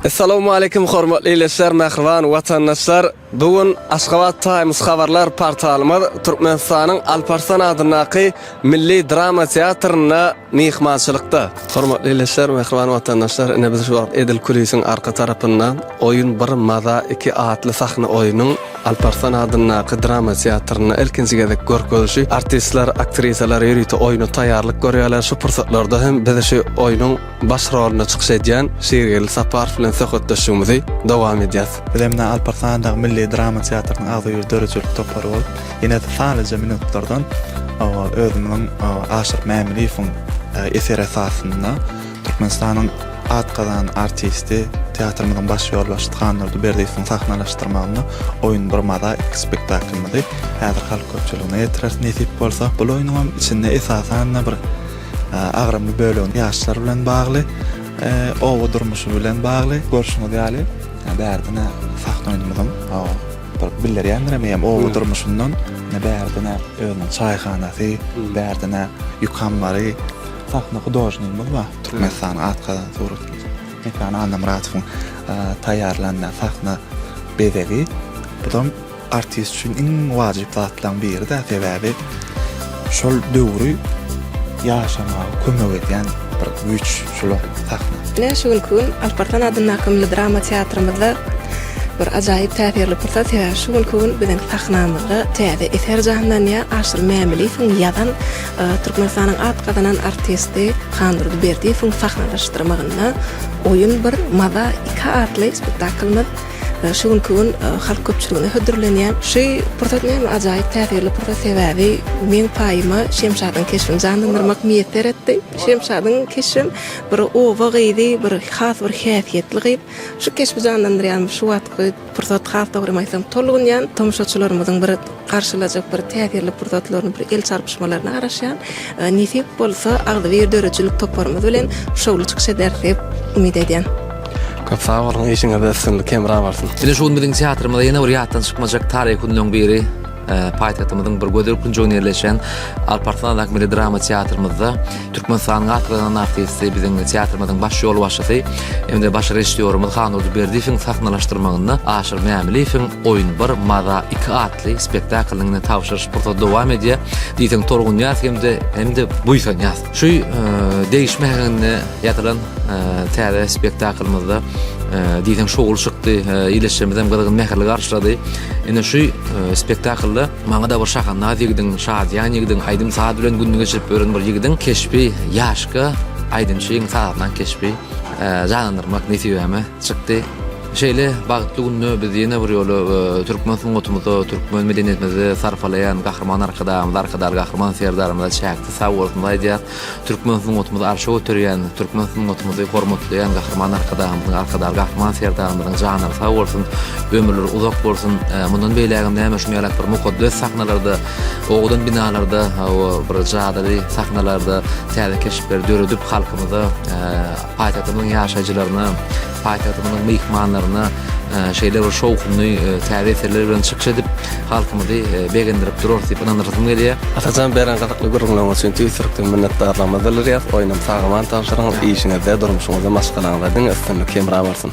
Essalawmaleýkim hormatly ildeşler, mähriban watandaşlar. Bu gün Aşgabat Times habarlar portalymyz Türkmenistanyň Alparslan adyndaky Milli drama teatrynda myhmançylykda. Hormatly ildeşler, mähriban watandaşlar, ine biz şu wagt Edil Kulisiň arka tarapynda Oýun bir maza iki atly sahna oýunyň Alparslan adyndaky drama teatrynda ilkinji gezek görkezilşi, artistler, aktrisalar ýörite oýna taýýarlyk görýärler, şu pursatlarda hem biz şu oýnuň baş rolunda çykyş edýän Şirgeldi Saparow bilen söhbetdeşligimizi dowam edýäs. Biz hem ine Alparslan adyndaky milli drama teatrynyň agzybir döredijilik topary bolup, ine sanlyja minutlardan özümiziň Aşyr Mämmidiýewiň eseri esasynda Türkmenistanyň at gazanan artisti, teatrymyzyň baş ýolbaşçysy Hannurdy Berdiýewiň sahnalaşdyrmagynda Oýun bir maza iki spektaklymyzy häzir halk köpçüligine ýetireris nesip bolsa. Bul oýnuňam içinde esasan-da bir agramly bölegi ýaşlar bilen bagly, oba durmuşy bilen bagly. Görşüňiz ýaly, bärde-ne sahna oýnumyzyň bir bildirýändirem eýýäm oba durmuşyndan, ine bärde-ne özüniň çaýhanasy, bärde-ne ýük ammary, Sahna hudožnigimiz bar. Türkmenistana at gazan suratymyz. Mekan Annamyradowyň taýýarlan sahna bezegi. Buzam artist üçin iň wajyp zatlaryň biri-dä, sebäbi şol döwri ýaşamaga kömek edýän bir güýç şol sahna. Ine, şu günki gün Alyp Arslan adyndaky milli drama teatrymyzda bir ajaýyp täsirli pursat, sebäbi şu günki gün biziň sahnamyzda täze eser janlanýar, Aşyr Mämiliýewiň ýazan Türkmenistanyň at gazanan artisti Handurdy Berdiýewiň sahnalaşdyrmagynda Oýun bir, maza iki atly spektaklymyz şu günki gün halk köpçüligine hödürlenýär. Şu pursat meniň ajaýyp täsirli pursat, sebäbi meň paýyma Şemşadyň keşbini janlandyrmak miýesser etdi. Şemşadyň keşbem bir oba gyzy, bir has bir häsiýetli gyz. Şu keşbi janlandyrýarmyş şu wagtky. Pursat has dogrymy aýtsam tolgunýan tomaşaçylarymyzyň bir garşylajak bir täsirli pursatlaryny bir el çarpyşmalaryna garaşýan nesip bolsa agzybir döredijilik toparymyz bilen şowly çykyş ederis diýip umyt edýän. Köp sag boluň işiňizde üstünlik hemra bolsun. Ine şu gün biziň teatrymyza ýene bir ýatdan çykmajak taryhy günleň biri. paýtagtymyzyň bir gözel künjeginde ýerleşen Alparslandaky milli drama teatrymyzda Türkmenistanyň atgazan artisti, biziň teatrymyzyň baş ýolbaşçysy hem-de baş režissýorymyz Hannurdy Berdiýewiň sahnalaşdyrmagynda Aşyr Mämiliýewiň Oýun bir, maza iki atly spektaklynyň tabşyryş pursady dowam edýär. Diýseň tolgunýas hem-de hem-de buýsanýas. Şu degişme hakynda ýazylan täze spektaklymyzda diýseň şowly çykdy, ýylyşymyz hem gyzgyn mähirli garşylady. Ine şu spektaklda maňa da bir şahandaz ýigidiň, şadyýan ýigidiň, aýdym-saz bilen gününi geçirip ýören bir ýigidiň keşbi, ýaşka aýdymçyň sazanan keşbi janlandyrmak nesibeme çykdy. Şeýle bagtly günde biz ýene bir ýola türkmen sungatymyza, türkmen medeniýetimizde sarpalaýan Gahryman Arkadagymyza, Arkadagly Gahryman Serdarymyza çäksiz Sag bolsun aýdýas. Türkmen sungatymyzy arşa göterýän, türkmen sungatymyzy hormatlaýan Gahryman Arkadagymyzyň, Arkadagly Gahryman Serdarymyzyň janlary sag bolsun, ömürleri uzak bolsun. Mundan beýlägem näme şuny ýalak bir mukaddes sahnalarda, owadan binalarda, hawa, bir jadyly sahnalarda täze keşpleri döredip halkymyza, paýtagtymyzyň ýaşaýjylaryna, Paýtagtymyzyň myhmanlaryna şeýle bir şowhunly täze eserler bilen çykyş edip, halkymyzy begendirip durarys diýip ynandyrasym gelýär. Atajan beren gyzykly gürrüňleriňiz üçin tüýs ýürekden minnetdarlygymyzy bildirýäris. Oýnum sag-aman tabşyryň, işiňizde, durmuşyňyzda, maşgalaňyzda diňe üstünlik hemra bolsun!